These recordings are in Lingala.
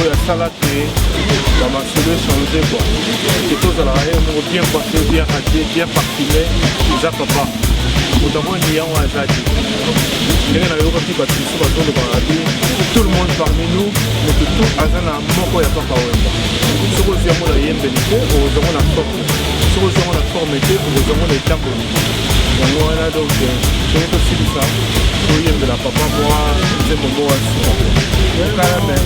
oyo asala te bamasolo echange kua ke tozalaka ye moko bien coife bien radier bien parfume eza papa moto amoni yango aza te ndenge nayokaki bato mosusu bazolobaka te tout le monde parmi nous moto tu aza na moko ya papa wemba soki ozwi yango na yembeli te okozwango na forme soki ozwi yango na forme te okozwango na etamboli yango wana donc soki tosilisa toyembela papa mwa nzembo moko ya sika okala me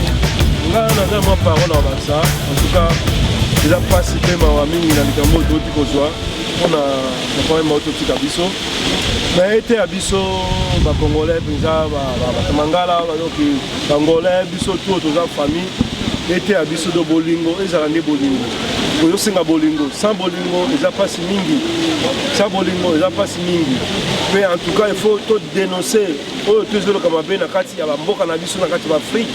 nga naza mwa parole na bakisa en tout cas eza mpasi mpe mawa mingi na likambo oyo touti kozwa mpona baprome mao totika biso na ete ya biso bacongolais mpenza batamangala bayoki bangolais biso to toza famille ete ya biso do bolingo ezala nde bolingo ozosenga bolingo sans bolingo eza mpasi mingi sa bolingo eza mpasi mingi mpe en tout cas il faut to denoncer oyo tozoloka mabe na kati ya bamboka na biso na kati ya baafrike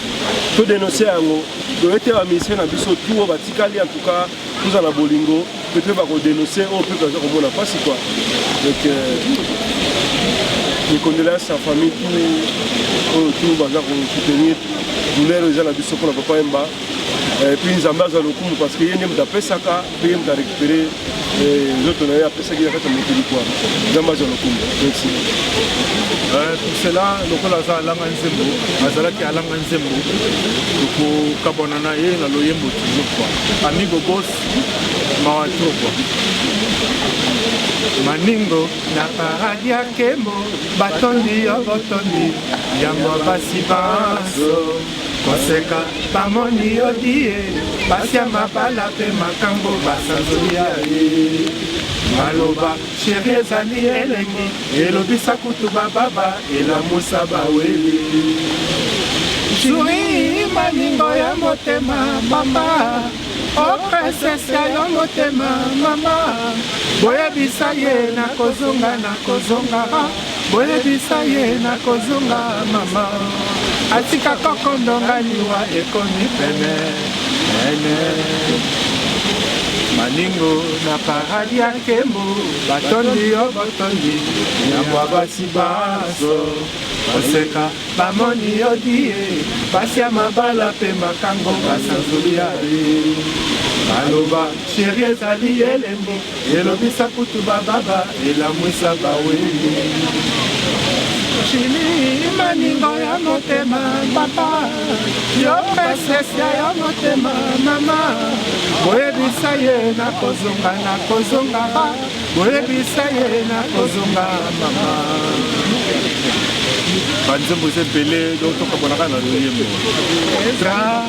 to denoncer yango toye te baministre na biso tu oyo batikali en tout cas toza na bolingo mpe toyeba kodenoncer oyo mpe toza komona mpasi kua donc mikondela ya sa famille tu oyo tu baza kosoutenir douleur eza na biso mpona papa yemba epuis nzambe azwa lokumu parce que ye nde moto apesaka ndenge moto arekipere eh, nzoto na ye apesaki na kati ya mokili kwa nzambe azwa lokumu merci eh, pour cela lokola aza alanga nzembo azalaki alanga nzembo tokokabwana na ye na loyembo toujours kua amigo bos mawa tro kua maningo na paradi ya kembo batondi yo botondi yango basi banso koseka bamoni yo die basi ya mabala mpe makambo basanzoli ya ye maloba sheri ezali elengi elobisa kutu bababa elamusa baweli juri malingo ya motema mama o oh, princese ya yo motema mama boyebisa ye nakozonga nakozonga Boyebisa ye nakozonga mama atika koko ndonga liwa ekomi pene pene maningo na paradi ya nkembo batondi yo botondi yambwa basi banso oseka bamoni yo die basi ya mabala mpe makango basanzoli ya ye baloba sheri ezali elembo Elobisa kutu ba baba elamwisa ba weli Chili maningo ya motema papa yo pesesi ya yo motema mama boyebisa ye nakozonga nakozonga boyebisa ye nakozonga mama banzembo eza ebele donc tokabolaka na loyembo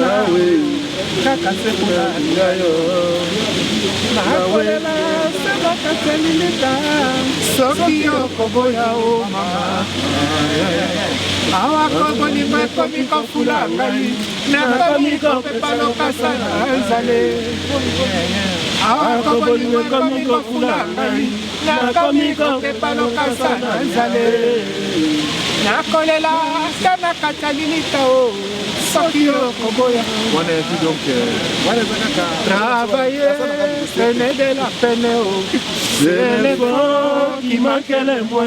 nawe kaka se konalinga yo nakolela se bakatelilita soki okoboya o oh mama awa kobolingo ekomi kofula ngai nakomi kopepa lokasa na ezale awa kobolingo ekomi kofula ngai nakomi kokepa lokasa na nzale nakolela ata na kati ya lilita o soki okoboya wana esi donc wana eza kaka travaille pene de la pene o selefo kimakele mwe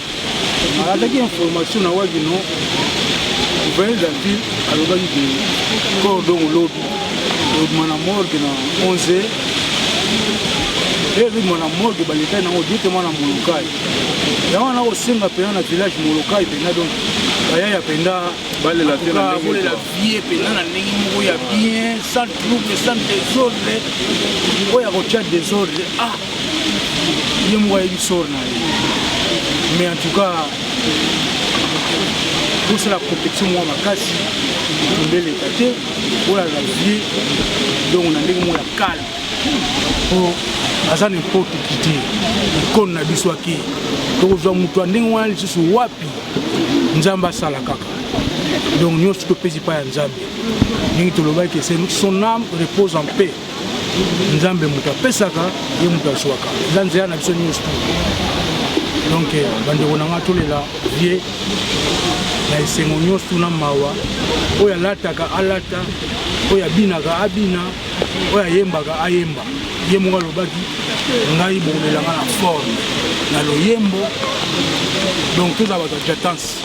alataki information na wapi no gouverneur de la ville alobaki ke corps dongo lobi lobima na morgue na 11 heures e lobima na morgue baletai nango directement na molokai yango wana kosenga mpena na village molokai mpena donc bayaya mpenda balela vie mpena na ndenge moko ya bien sans trouble sans desordre oyo akotia desordre ah ye moko ayebi sor na ye mais en tout cas bosala complexion mwa makasi mbeleka te olala vie donc na ndenge moko ya kale po aza na importe ki te ikone na biso ake tokozwa moto ya ndenge wana lisusu wapi nzambe asala kaka donc nyonso topesi epai ya nzambe ndenge tolobaki son âme repose en paix nzambe moto apesaka ye moto azwaka eza nzela na biso nyonso donc eh, bandeko na ngai tolela vie na esengo nyonso tuna mawa oyo alataka alata oyo abinaka abina oyo ayembaka ayemba ye moko alobaki ngai bokolela ngai na forme na loyembo donc toza bato ya jatance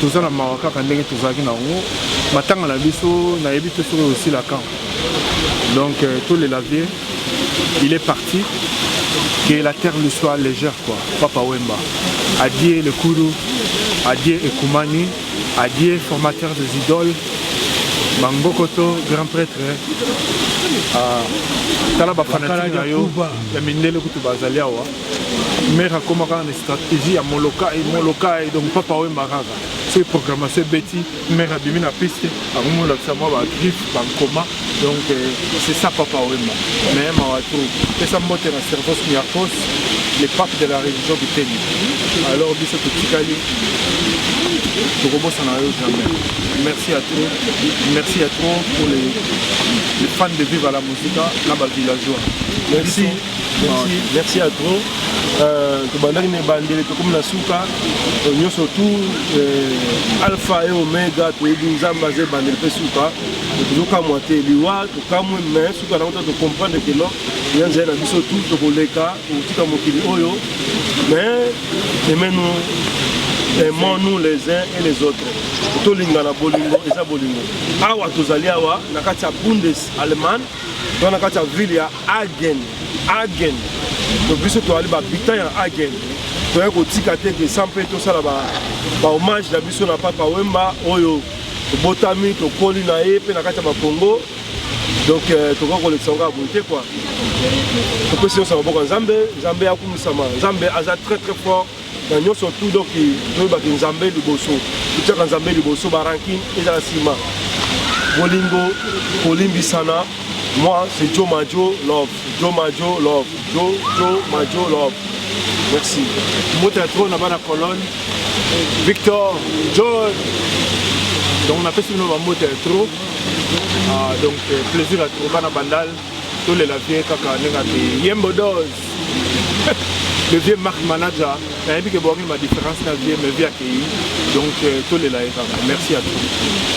toza na mawa kaka ndenge tozalaki na yango matanga na biso nayebi te soki osila kan donc euh, tolela vie il est parti que la terre lui soit légère quoi papa wemba adie lekulu adie ekumani adie formateur des idoles bangokoto grand prêtre euh, tala bafanatike na yo ya mindele kutu bazali awa Mère akoma kaka na stratégie ya molokai molokai donc papa wemba kaka soki programmation ebeti mère abimi na piste bango molakisa mwa bagriffe bankoma donc euh, c'est ça papa wemba mais mawa to pesa mbote na servos miakos le pape de la religion biteni alors biso totikali tokobosana yo jamais merci à trop merci à trop pour les, les fans de viva la musica na bavillageois merci, merci. Merci, merci à trop. Euh, tobandaki na ebandeli tokomi na suka euh, nyonso tout euh, alpha et omega toyebi nzambe aza ebandeli mpe suka tozokamwa te liwa tokamwe mais suka nango ta tocomprendre ke non ya nzela na biso tout tokoleka tokotika mokili oyo mais emenu aimons-nous les uns et les autres tolingana bolingo eza bolingo awa tozali awa na kati ya bundes allemagne to na kati ya ville ya Agen, Agen. Donc biso toali ba habitants ya Agen. Toya kotika te que sans pe tosala ba ba hommage na biso na Papa Wemba oyo tobotami tokoli na ye mpe na kati ya bakongo donc euh, tokoki kolekisa yango ya boye te kua topesi nyonso ya maboko ya nzambe nzambe akumisama nzambe aza très très fort na nyonso tout donc toyebaki nzambe liboso totyaka nzambe liboso barankine ezala nsima bolingo kolimbisana moi c'est jo majo love jo majo love jo jo majo love merci mota tro na bana colonne victor john donc napesi bino bamota ya tro ah, donc euh, plaisir ya tro bana bandal tolela vie kaka ndenge abe yembo dose le vieux mark manager nayebi ke boyaki ma différence na vie me vie akeyi donc euh, tolela ye kaka merci à tous